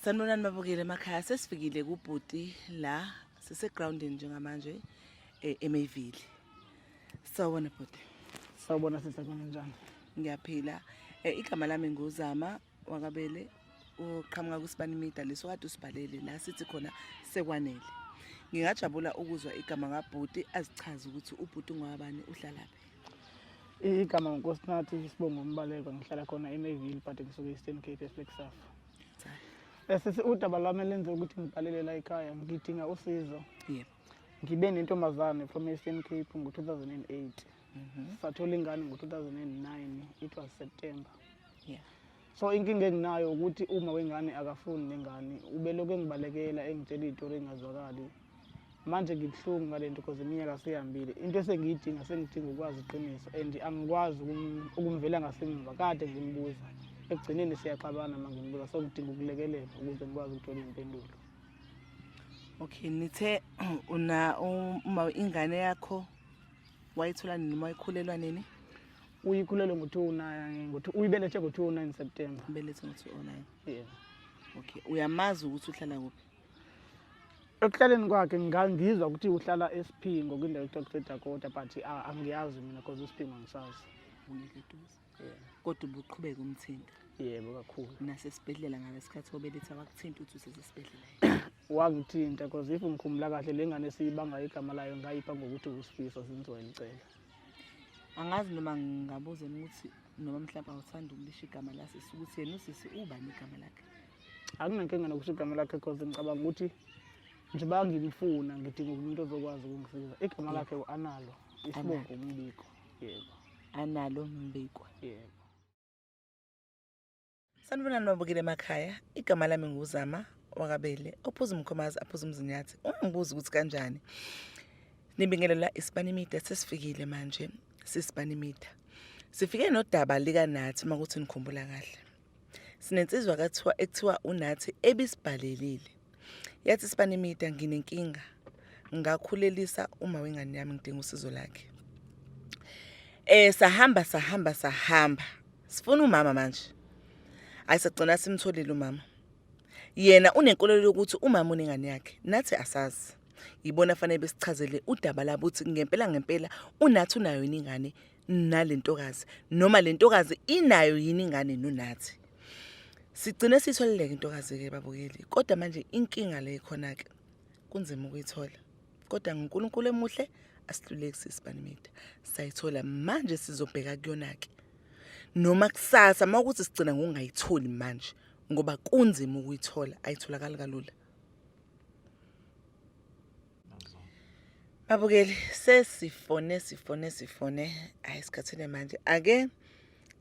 Sanibonani babukeli emakhaya sesifikile kubhuti la sisegroundini njengamanje eh, eMayville. Sawubona bhuti. Sawubona sisi kunjani? Ngiyaphila. Eh, igama lami nguZama wakabele uqhamuka kusibani media leso kade usibhalele la sithi khona sekwanele. Ngingajabula ukuzwa igama kabhuti azichaze ukuthi ubhuti ngwabani uhlalaphi. igama ngunkosinathi isibongo umbaleko ngihlala khona emeville but ngisuke eastern cape eflexaf esisi udaba lwami elenze ukuthi ngibhalele la ekhaya ngidinga usizo yebo ngibe nentombazane from eastern cape ngo-2008 mhm. sathola ingane ngo-2009 it was september yeah. so inkinga enginayo ukuthi uma wengane akafuni nengane ubelokhu engibalekela engitshela iy'tori engingazwakali manje ngibuhlungu ngale nto because iminyaka seyihambile into esengiyidinga sengidinga ukwazi iqiniso and angikwazi ukumvela ngasemuva kade ngimbuza ekugcineni siyaxabana ma ngimbuza so ngidinga ukulekelela ukuze ngikwazi ukuthola iy'mpendulo okay nithe una uma ingane yakho wayithola nini uma ikhulelwa nini Uyikhulelwe ngo-29 ngo- uyibelethe ngo-29 September. Ubelethe ngo-209. Yeah. Okay. Uyamazi ukuthi uhlala kuphi? Ekuhlaleni kwakhe ngangizwa ukuthi uhlala eSiphingo kwindawo ekuthiwa kuseDakota but ah, angiyazi mina because iSiphingo angisazi. Ungekho eduze. Yeah. Kodwa ubuqhubeka umthinta. Yebo kakhulu. Nasesibhedlela ngalesikhathi obeletha wakuthinta uthi usesesibhedlela. Wangithinta because if ngikhumula kahle le ngane siyibanga igama layo ngayipha ngokuthi uSifiso zinzwa elicela. angazi noma ngingabuza ukuthi noma mhlawumbe awuthanda ukulisho igama lasisi ukuthi yena usisi ubani igama lakhe anginankinga nokusho igama lakhe cause ngicabanga ukuthi njengoba ngimfuna ngidinga umuntu ozokwazi ukungisiza igama lakhe u-analo isibongo umbiko yebo analo mbiko yebo Sanibonani babukile emakhaya igama lami nguzama wakabele ophuza umkhomazi aphuza umzinyathi ungibuza ukuthi kanjani nibingelela isibani media sesifikile manje sisibani media sifike nodaba likanathi uma kuthi nikhumbula kahle sinensizwa kathiwa ekuthiwa unathi ebisibhalelile Yathi Sibanimida nginenkinga ngakhulelisa uma wengane yami ngidinga usizo lakhe. Eh sahamba sahamba sahamba. Sifuna umama manje. Ayisagcina simtholile umama. Yena unenkolelo yokuthi umama unengane yakhe nathi asazi. Yibona fanele besichazele udaba labuthi ngempela ngempela unathi unayo ingane nalentokazi noma lentokazi inayo yini ingane nonathi sigcine sitholeleke intokazi ke babukeli kodwa manje inkinga le khona ke kunzima ukuyithola kodwa nguNkulunkulu emuhle asihluleki sisibanimida sayithola manje sizobheka kuyona ke noma kusasa mawukuthi sigcina ngokungayitholi manje ngoba kunzima ukuyithola ayitholakali kalula Babukeli sesifone sifone sifone hayi sikhathele manje ake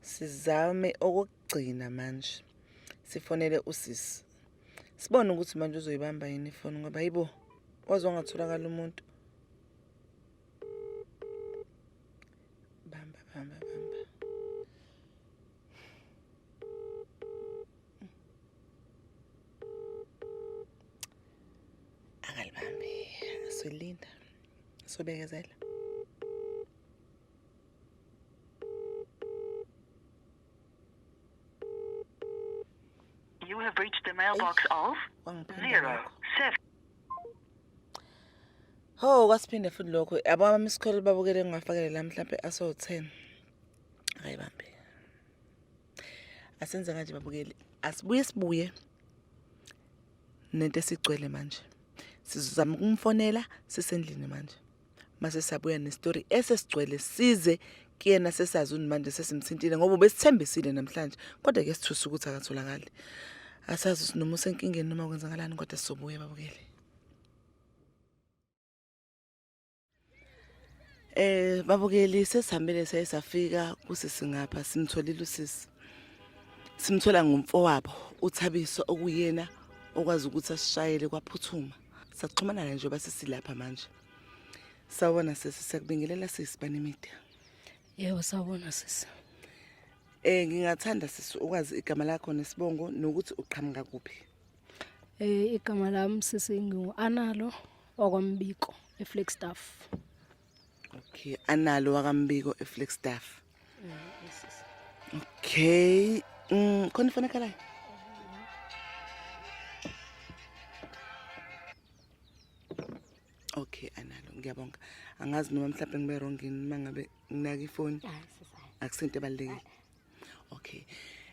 sizame okugcina manje sifonele usisi sibone ukuthi manje uzoyibamba yini ifoni ngoba yibo waze wangatholakala umuntu bamba bamba bamba angalibambi solinda sobekezela You have reached the mailbox of zero seven. Oh, kwasiphinde futhi lokho. Yabo ama miss call babukele ngingafakele la mhlambe aso 10. Hayi bambi. asenze kanje babukeli asibuye sibuye nento esigcwele manje sizozama ukumfonela sisendlini manje mase sabuya nestory esesigcwele size kuyena sesazi ukuthi manje sesimthintile ngoba besithembisile namhlanje kodwa ke sithusa ukuthi akatholakali asazi sinoma usenkingeni noma kwenzakalani kodwa sizobuya babukeli Eh babukeli sesihambile saye safika kusisi ngapha simtholile usisi. Simthola ngomfowabo uthabiso okuyena okwazi ukuthi asishayele kwaphuthuma. Saxhumana naye njengoba sisilapha manje. Sawona sisi sekubingelela sisi banemida. Yebo sawona sisi. Eh ngingathanda sisi ukwazi igama lakho nesibongo nokuthi uqhamuka kuphi. Eh igama lami sisi ngingu Analo okwambiko eFlagstaff. Okay, Analo wakambiko eFlagstaff. Mm, okay, mm khona ifone kalayo. Okay, Analo ngiyabonga. Angazi noma mhlawumbe ngibe wrong yini mangabe nginaka ifoni. Akusento ebalekile. Okay.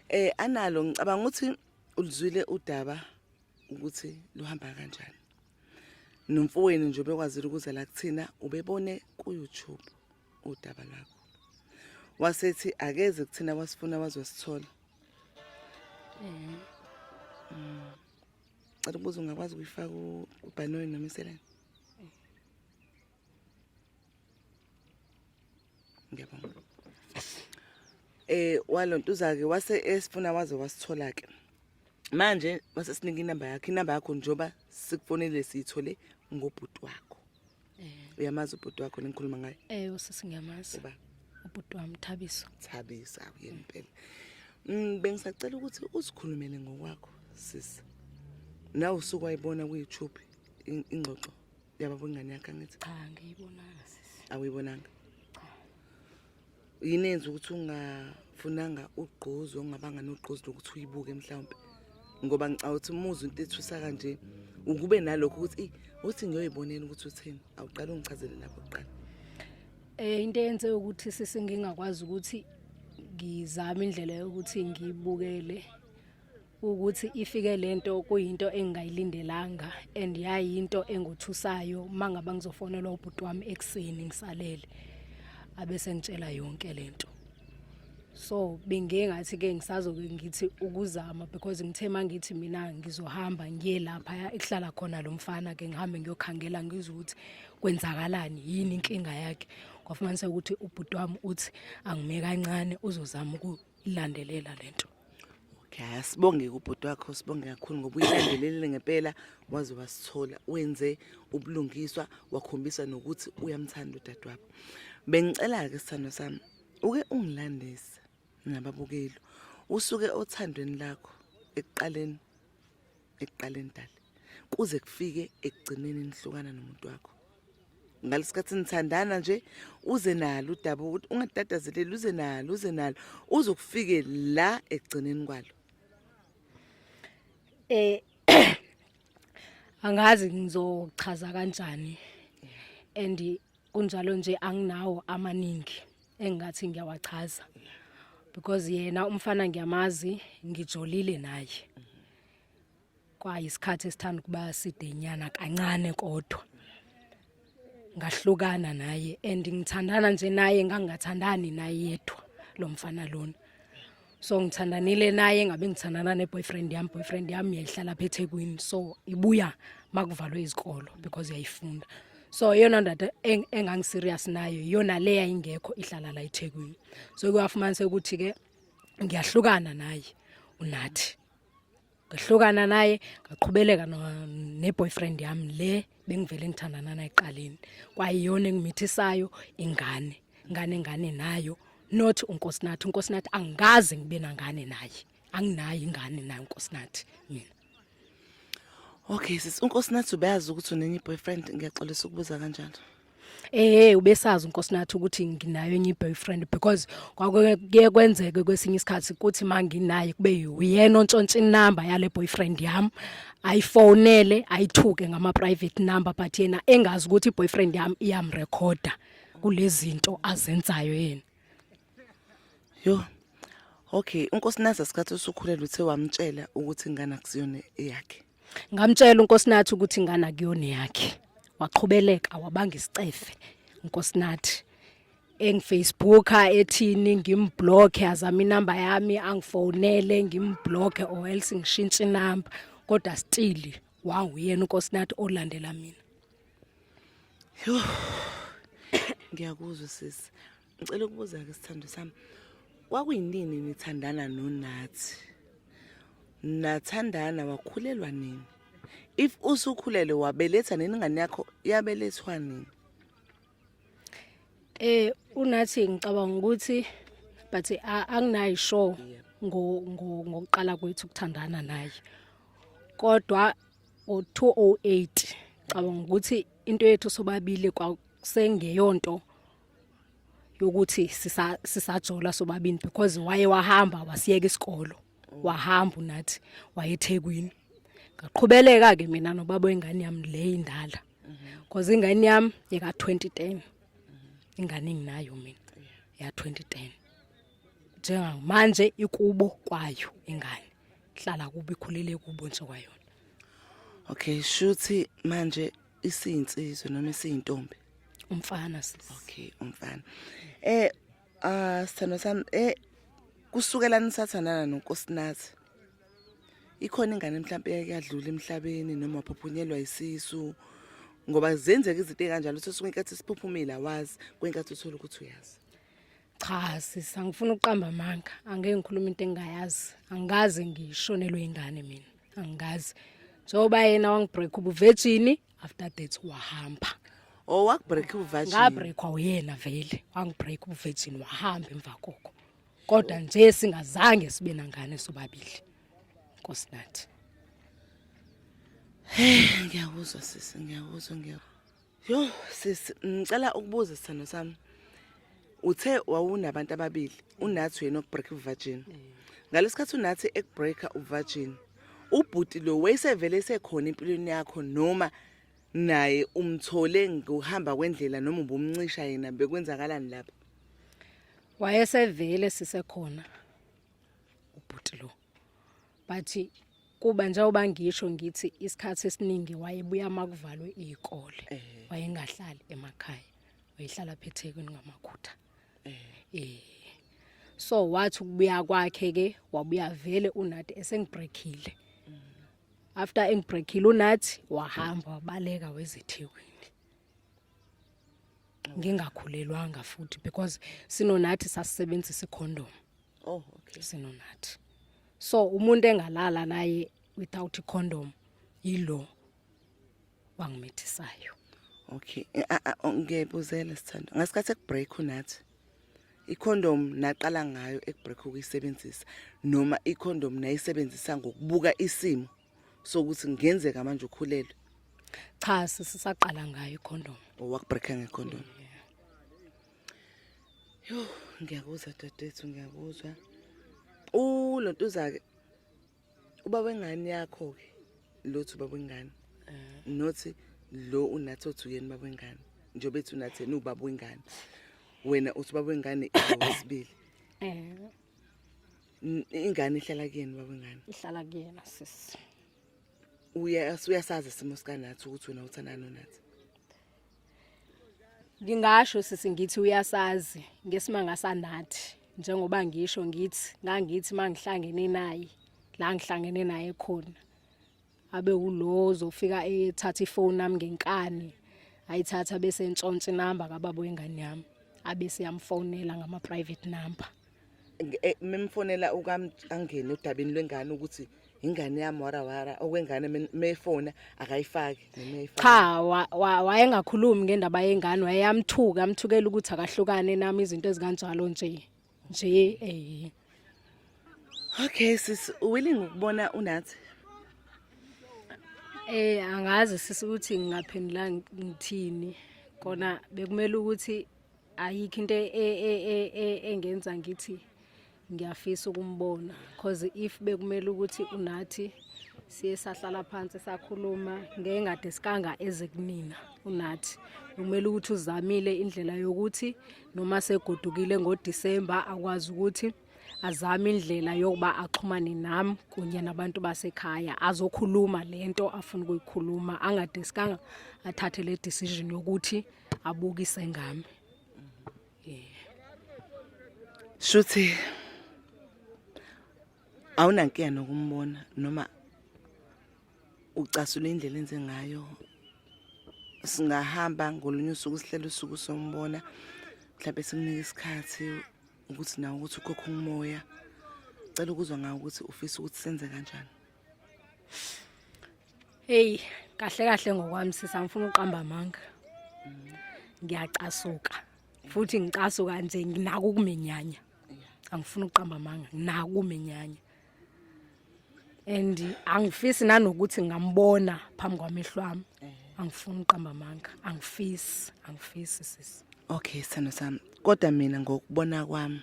Eh Analo ngicabanga ukuthi ulizwile udaba ukuthi luhamba kanjani nomfowenu nje bekwazile ukuze la kuthina ubebone ku-youtube udaba lwakho wasethi akeze kuthina wasifuna wazosithola um cela ukubuza ungakwazi ukuyifaka ubhanoyi noma iseleni ngiyabonga eh walontuzake wase esifuna waze wasithola ke manje wase sinika inamba yakhe inamba yakho njoba sikufonele siyithole ngobhuti wakho eh. uyamazi ubhuti wakho lengikhuluma ngaye eh usisi ngiyamazi uba ubhuti wami Thabiso Thabiso akuyena impela mm, bengisacela ukuthi usikhulumele ngokwakho sisi na usuku wayibona ku-YouTube ingxoxo Uyababa ingane yakhe angithi? Cha ngiyibonanga sisi. Awuyibonanga? Cha. Yini enza ukuthi ungafunanga ugqozi ongabanga nogqozi lokuthi uyibuke mhlawumbe? Ngoba ngicabanga ukuthi umuzi into ethusa kanje ukube nalokho ukuthi uthi ngiyoyibonela ukuthi uthini. Awuqala ungichazele lapho kuqala. Eh into yenze ukuthi sisi ngingakwazi ukuthi ngizame indlela yokuthi ngiyibukele ukuthi ifike lento kuyinto engingayilindelanga and yayinto engothusayo mangaba ngizofonelwa ubhuti wami ekseni ngisalele abese ngitshela yonke lento so bengengathi ke ngisazoke ngithi ukuzama because ngithe mangithi mina ngizohamba ngiye lapha ekuhlala khona lo mfana ke ngihambe ngiyokhangela ngizwe ukuthi kwenzakalani yini inkinga yakhe kwafumanisa ukuthi ubhuti wami uthi angime kancane uzozama ukulandelela lento ya sibonge kubhuti wakho sibonge kakhulu ngoba uyilandelelile ngempela waze wasithola wenze ubulungiswa wakhombisa nokuthi uyamthanda udadewabo bengicela-ke sithando sami uke ungilandise nababukeli usuke othandweni lakho ekuqaleni ekuqaleni dali kuze kufike ekugcineni nihlukana nomuntu wakho ngalesikhathi nithandana nje uze nalo udaba ukuthi ungadadazeleli uze nalo uze nalo uzokufike la ekugcineni kwalo eh angazi ngizochaza kanjani and kunjalo nje anginawo amaningi engingathi ngiyawachaza because yena umfana ngiyamazi ngijolile naye kwayisikhathi esithanda ukuba sidenyana kancane kodwa ngahlukana naye and ngithandana nje naye ngangingathandani naye yedwa lo mfana lona so ngithandanile naye ngabe ngithandana ne-boyfriend yami boyfriend yami yayihlala pha ethekwini so ibuya makuvalwe izikolo because yayifunda so iyona ndoda engangiserious nayo iyona le yayingekho ihlala la ethekwini so kuyafumanisa ukuthi-ke ngiyahlukana naye unathi ngehlukana naye ngaqhubeleka ne-boyfriend yami le bengivele ngithandana naye eqaleni kwayiyona engimithisayo ingane ngane ngane nayo not unkosinathi unkosinathi angikaze ngibe nangane naye anginayo ingane naye unkosinathi mina okay sisi unkosinathi ubeyazi ukuthi unenye i-boyfriend ngiyaxolisa ukubuza kanjalo eh ubesazi uNkosinathi ukuthi nginayo enye boyfriend because kwakuye kwenzeke kwesinye isikhathi ukuthi manginaye kube uyena ontshontsha inamba yale boyfriend yami ayifonele ayithuke ngama private number but yena engazi ukuthi boyfriend yami iyamrecorda kulezinto azenzayo yena Yo. Okay, unkosinazi asikhathi usukhulelwe uthe wamtshela ukuthi ingane akusiyona eyakhe. Ngamtshela unkosinathi ukuthi ingane akuyona eyakhe. Waqhubeleka wabanga isicefe unkosinathi. engifacebooka ethini ngimblocke azama inamba yami angifonele ngimblocke or else ngishintshe inamba kodwa still wanguyena unkosinathi olandela mina yho ngiyakuzwa sisi Ngicela ukubuza-ke sithando sami kwakuyinini nithandana nonathi nathandana wakhulelwa nini if usukhulelwe wabeletha nini ingane yakho yabelethwa nini eh unathi ngicabanga ukuthi but anginayi sure ngo ngokuqala kwethu ukuthandana naye kodwa o208 cabanga ukuthi into yethu sobabili kwasengeyonto yokuthi sisa sisajola sobabini because waye wahamba wasiyeka isikolo wahamba unathi wayethekwini ngaqhubeleka ke mina nobaba wengane yami le indala because ingane yami yeka 2010 ingane enginayo mina ya 2010 njengamanje ikubo kwayo ingane hlala kubi khulele kubo nje kwayona okay shuthi manje isinsizwe noma isiyintombi umfana sisi okay umfana eh ah sithando sami eh kusukela nisathandana nonkosinathi ikhona ingane mhlawumbe yakuyadlula emhlabeni noma waphuphunyelwa isisu ngoba zenzeka izinto ekanjalo sosuke inkathi siphuphumile awazi kwenkathi uthola ukuthi uyazi cha sisi angifuni ukuqamba amanga angeke ngikhulume into engingayazi angikaze ngishonelwe ingane mina angikazi njengoba yena wangibreak ubuvejini after that wahamba oh wakubreak ubuvejini ngabreakwa uyena vele wangibreak ubuvejini wahamba emva koko kodwa nje singazange sibe nangane sobabili nkosi nathi ngiyakuzwa sisi ngiyakuzwa ngiyakuzwa Yo sis ngicela ukubuza sithando sami. Uthe wawunabantu ababili unathi wena obreak virgin. Ngalesikhathi unathi ekubreaker uvirgin. Ubhuti lo wayesevele esekhona empilweni yakho noma naye umthole ngokuhamba kwendlela noma ubumncisha yena bekwenzakalani lapha? Wayesevele sisekhona ubhuti lo. but kuba njengoba ngisho ngithi isikhathi esiningi wayebuya makuvalwe izikole eh. wayengahlali emakhaya wayehlala phethekwini ngamakhutha eh. eh so wathi ukubuya kwakhe ke wabuya vele unathi esengibreakile mm. after engibreakile unathi wahamba wabaleka wezethekwini ngingakhulelwanga futhi because sinonathi sasisebenzisa icondom oh okay sinonathi so umuntu engalala naye without a condom yilo wangimithisayo okay eh, ah, ah, oh, ngiyabuzela sithando ngasikhathi ekubreak unathi icondom naqala ngayo ekubreak ukuyisebenzisa noma icondom nayisebenzisa ngokubuka isimo sokuthi ngenzeka manje ukhulelwe cha sisaqala ngayo icondom owakubreaka oh, ngecondom yeah. Yho ngiyakuzwa dadethu ngiyakuzwa. U lo ntuzake uba wengane yakho ke lothi uba wengane. Eh. Nothi lo unathi othi uyena uba wengane. Njengoba ethi unathi yena ubaba wengane. Wena uthi uba wengane iwesibili. Eh. Ingane ihlala kuyena uba wengane. Ihlala kuyena sisi. Uya uyasazi isimo sikanathi ukuthi wena uthandana nonathi. Ngingasho sisi ngithi uyasazi ngesimanga sanathi njengoba ngisho ngithi ngangithi mangihlangene naye la ngihlangene naye khona abe ulowo zofika ethatha ifoni nami ngenkani ayithatha bese ntshontshe inamba kababa wengane yami abe siyamfonela ngama private number eh, memfonela angene udabeni lwengane ukuthi ingane yami warawara okwengane mefona akayifaki cha wayengakhulumi ngendaba yengane wayeyamthuka amthukela ukuthi akahlukane nami izinto ezikanjalo nje nje eh okay sis willing ukubona unathi eh angazi sisi ukuthi ngingaphendula ngithini kona bekumele ukuthi ayikho into e, e, e, engenza ngithi ngiyafisa ukumbona cause if bekumele ukuthi unathi siye sahlala phansi sakhuluma ngengade sikanga eze kumina unathi kumele ukuthi uzamile indlela yokuthi noma segodukile ngoDisemba akwazi ukuthi azame indlela yokuba axhumane nam kunye nabantu basekhaya azokhuluma le nto afuna ukuyikhuluma angadiskanga athathe le decision yokuthi abukise ngami shuthi awunankinga nokumbona noma ucasula indlela enze ngayo singahamba ngolunye usuku sihlele usuku sombona mhlawumbe sikunike isikhathi ukuthi nawe ukuthi ukhokha umoya cela ukuzwa ngawo ukuthi ufisa ukuthi senze kanjani heyi kahle kahle ngokwami sisa ngifuna uqamba amanga ngiyacasuka futhi ngicasuka nje nginako ukumenyanya angifuni uqamba amanga nginakumenyanya and angifisi nanokuthi ngambona phambi kwamehlo ami eh. angifuni uqamba amanga angifisi angifisi sisi okay sithando sami kodwa mina ngokubona kwami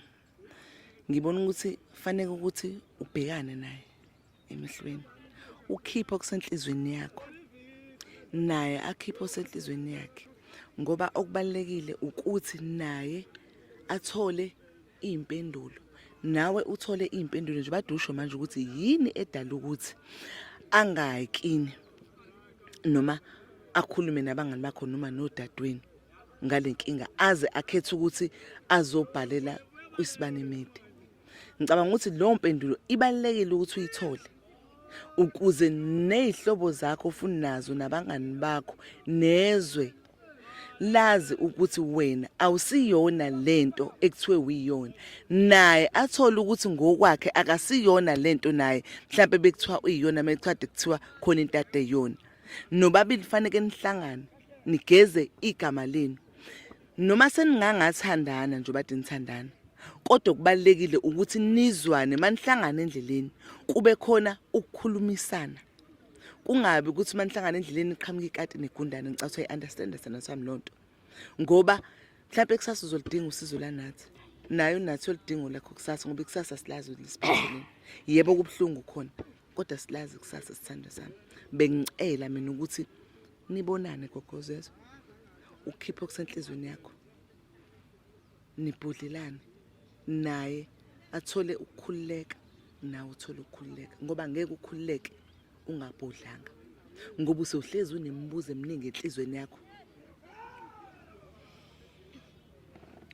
ngibona ukuthi fanele ukuthi ubhekane naye emehlweni ukhiphe okusenhlizweni yakho naye akhiphe osenhlizweni yakhe ngoba okubalekile ukuthi naye athole iy'mpendulo nawe uthole iy'mpendulo nje badusho manje ukuthi yini edala ukuthi angakini noma akhulume nabangani bakho noma nodadweni ngale nkinga aze akhethe ukuthi azobhalela kwisibani mede ngicabanga ukuthi leyo mpendulo ibalulekile ukuthi uyithole ukuze nezihlobo zakho ofuna nazo nabangani bakho nezwe lazi ukuthi wena awusiyona lento ekuthiwe uyiyona naye athole ukuthi ngokwakhe akasiyona lento naye mhlawumbe bekuthiwa uyiyona mecwadi kuthiwa khona into adeyona nobabili faneke nihlangane nigeze igama lenu noma seningangathandana njengoba dinithandana kodwa kubalekile ukuthi nizwane manihlangana endleleni kube khona ukukhulumisana kungabi ukuthi manihlangana endleleni iqhamuka ikati negundane ngicatha i-understand sana sami lonto ngoba mhlawumbe kusasa uzolidinga usizo lanathi nayo nathi olidingo lakho kusasa ngoba ikusasa silazi lisiphatheleni yebo kubuhlungu khona kodwa silazi kusasa sithando sami bengicela mina ukuthi nibonane gogozezwe ukhiphe okusenhlizweni yakho nibhudlelane naye athole ukukhululeka nawe uthole ukukhululeka ngoba ngeke ukhululeke ungabhodlanga ngoba usohlezi unemibuzo eminingi enhlizweni yakho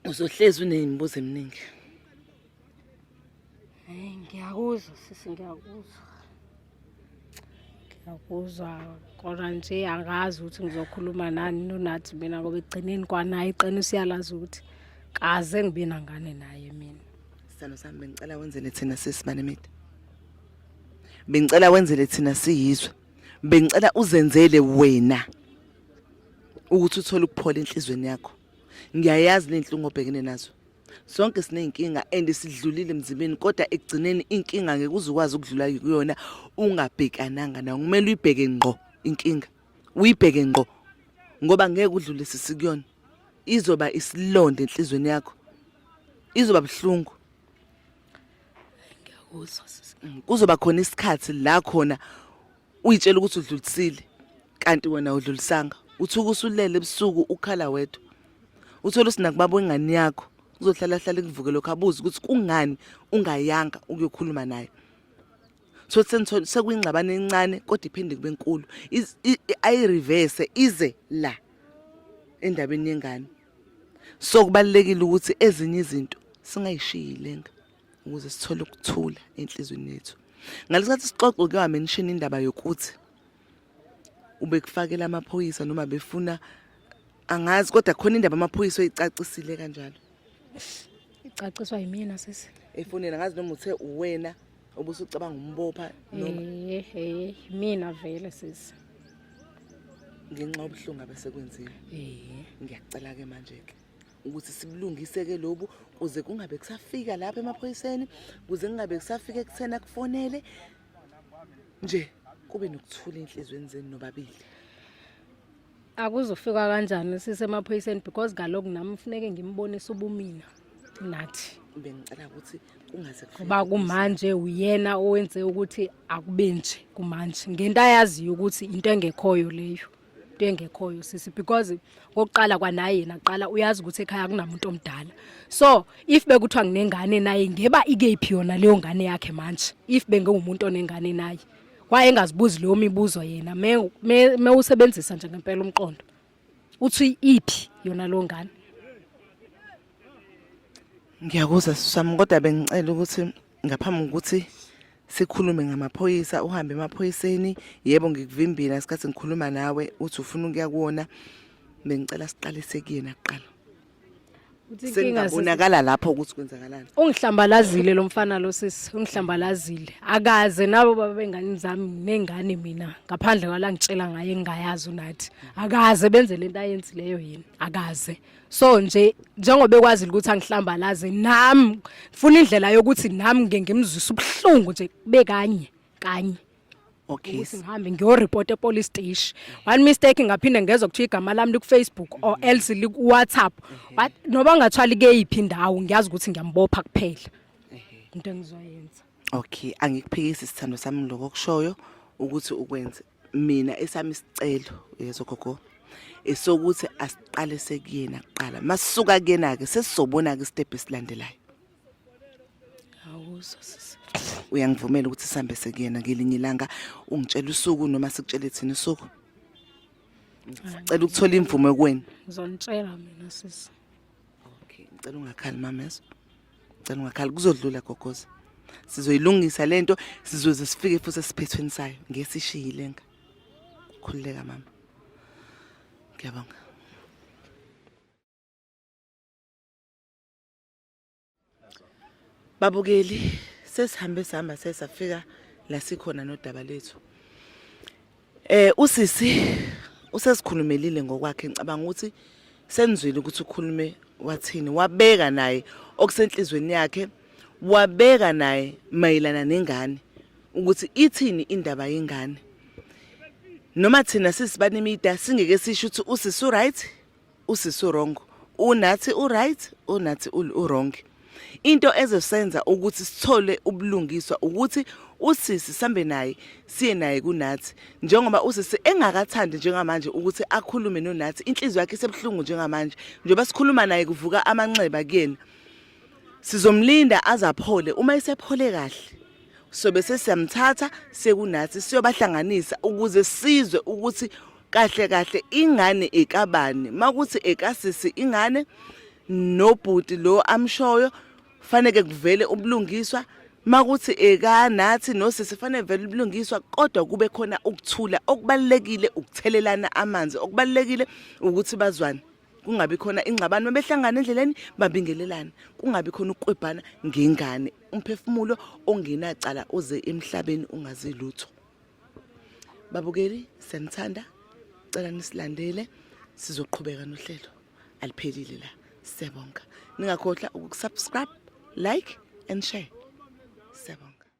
uzohlezi unemibuzo eminingi Hey, ngiyakuzwa sisi ngiyakuzwa ngiyakuzwa kodwa nje angazi ukuthi ngizokhuluma nani nonathi mina ngoba ekugcineni kwanaye iqiniso uyalazi ukuthi kaze ngibe nangane naye mina sithando sami bengicela wenzele thina sisi manemide bengicela wenzele thina siyizwe bengicela uzenzele wena ukuthi uthole ukuphola enhlizweni yakho ngiyayazi nenhlungu obhekene nazo sonke siney'nkinga and sidlulile emzimbeni kodwa ekugcineni inkinga ngeke uze ukwazi ukudlula kuyona ungabhekananga nayo kumele uyibheke ngqo inkinga uyibheke ngqo ngoba ngeke udlulise sikuyona izoba isilonda enhlizweni yakho izoba buhlungu ngiyakuzwa kuzoba khona isikhathi la khona uyitshela ukuthi udlulisile kanti wena udlulisanga uthuka usulele ebusuku ukhala wedwa uthola usinakubaba ingane yakho uzohlala hlala kuvuke lokho abuze ukuthi kungani ungayanga ukuyokhuluma naye so senithola sekuyingxabano encane kodwa iphinde kube nkulu ayireverse ize la endabeni yengane so kubalekile ukuthi ezinye izinto singayishiyi lenga ukuze sithole ukuthula enhlizweni yethu ngalesikhathi sixoxa kuyiwa mention indaba yokuthi ubekufakela amaphoyisa noma befuna angazi kodwa khona indaba amaphoyisa oyicacisile kanjalo icaciswa yimina sisi efonela ngazi noma uthe uwena obusucabanga umbopha noma eh eh mina vele sisi ngenxa obuhlungu abesekwenzile eh ngiyacela ke manje ke ukuthi sibulungise-ke lobu kuze kungabe kusafika lapha emaphoyiseni kuze kungabe kusafika ekutheni akufonele nje kube nokuthula enhliziyweni zenu nobabili akuzofika kanjani sisemaphoyiseni because kaloku nami kufuneke ngimbonise ubumina nathi bengicela ukuthi kungaze kuba kumanje uyena owenze ukuthi akube nje kumanje ngento ayaziyo ukuthi into engekhoyo leyo into engekhoyo sisi because ngokuqala kwanaye yena kuqala uyazi ukuthi ekhaya akunamuntu omdala so if bekuthiwa nginengane naye ngeba ikephi yona leyo ngane yakhe manje if bengengumuntu onengane naye waye engazibuzi leyo mibuzo yena me me usebenzisa nje ngempela umqondo uthi iphi yona lo ngane ngiyakuzwa sisami kodwa bengicela ukuthi ngaphambi kokuthi sikhulume ngamaphoyisa uhambe emaphoyiseni yebo ngikuvimbile ngesikhathi ngikhuluma nawe uthi ufuna ukuya kuwona bengicela siqalise kuyena kuqala sengabonakala lapho ukuthi kwenzakalani ungihlambalazile lo mfana lo sisi ungihlambalazile akaze nabo baba bengane zami nengane mina ngaphandle kwala ngitshela ngaye engayazi unathi akaze benze lento ayenzileyo yini akaze so nje njengoba ekwazi ukuthi angihlambalaze nami ngifuna indlela yokuthi nami ngeke ngimzwise ubuhlungu nje kube kanye kanye okay ukuthi ngihambe ngiyoreport epolice station one mistake ngaphinde ngezwe kuthiwa igama lami liku Facebook or else liku WhatsApp But noba ngathwali keyiphi indawo ngiyazi ukuthi ngiyambopha kuphela into engizoyenza okay angikuphikisi sithando sami lokho kushoyo ukuthi ukwenze mina esami isicelo yezo gogo esokuthi asiqale sekuyena kuqala masuka kuyena ke sesizobona ke step esilandelayo awuzo sisi uyangivumela ukuthi sihambe sekuyena ngelinye ilanga ungitshela usuku noma sikutshele thina usuku cela ukuthola imvume kuwena ngizonitshela mina sisi okay ngicela ungakhali mameso ngicela ungakhali kuzodlula gogoza sizoyilungisa lento sizoze sifike futhi esiphethweni sayo ngesishiyile nka khululeka mama ngiyabonga Babukeli sesihambe sihamba sesafika la sikhona nodaba lethu. Eh usisi usesikhulumelile ngokwakhe ngicabanga ukuthi senizwile ukuthi ukhulume wathini wabeka naye okusenhlizweni yakhe wabeka naye mayelana nengane ukuthi ithini indaba yengane noma thina sisibanemida singeke sisho ukuthi usisi right usisi wrong unathi uright unathi uwrong into ezosenza ukuthi sithole ubulungiswa ukuthi usisi sambe naye siye naye kunathi njengoba usisi engakathandi njengamanje ukuthi akhulume nonathi inhliziyo yakhe isebuhlungu njengamanje njengoba sikhuluma naye kuvuka amanxeba kuyena sizomlinda azaphole uma esephole kahle sobe sesiyamthatha sekunathi siyobahlanganisa ukuze sizwe ukuthi kahle kahle ingane ekabani makuthi ekasisi ingane nobhuti lo amshoyo faneke kuvele ubulungiswa makuthi eka nathi nosisi fanele vele ubulungiswa kodwa kube khona ukuthula okubalekile ukuthelelana amanzi okubalekile ukuthi bazwane kungabi khona ingxabano behlangana endleleni babingelelana kungabi khona ukukwebhana ngengane umphefumulo ongenacala uze emhlabeni ungazi lutho babukeli siyanithanda cela nisilandele sizoqhubeka nohlelo aliphelile la siyabonga ningakhohlwa ukusubscribe like and share siyabonga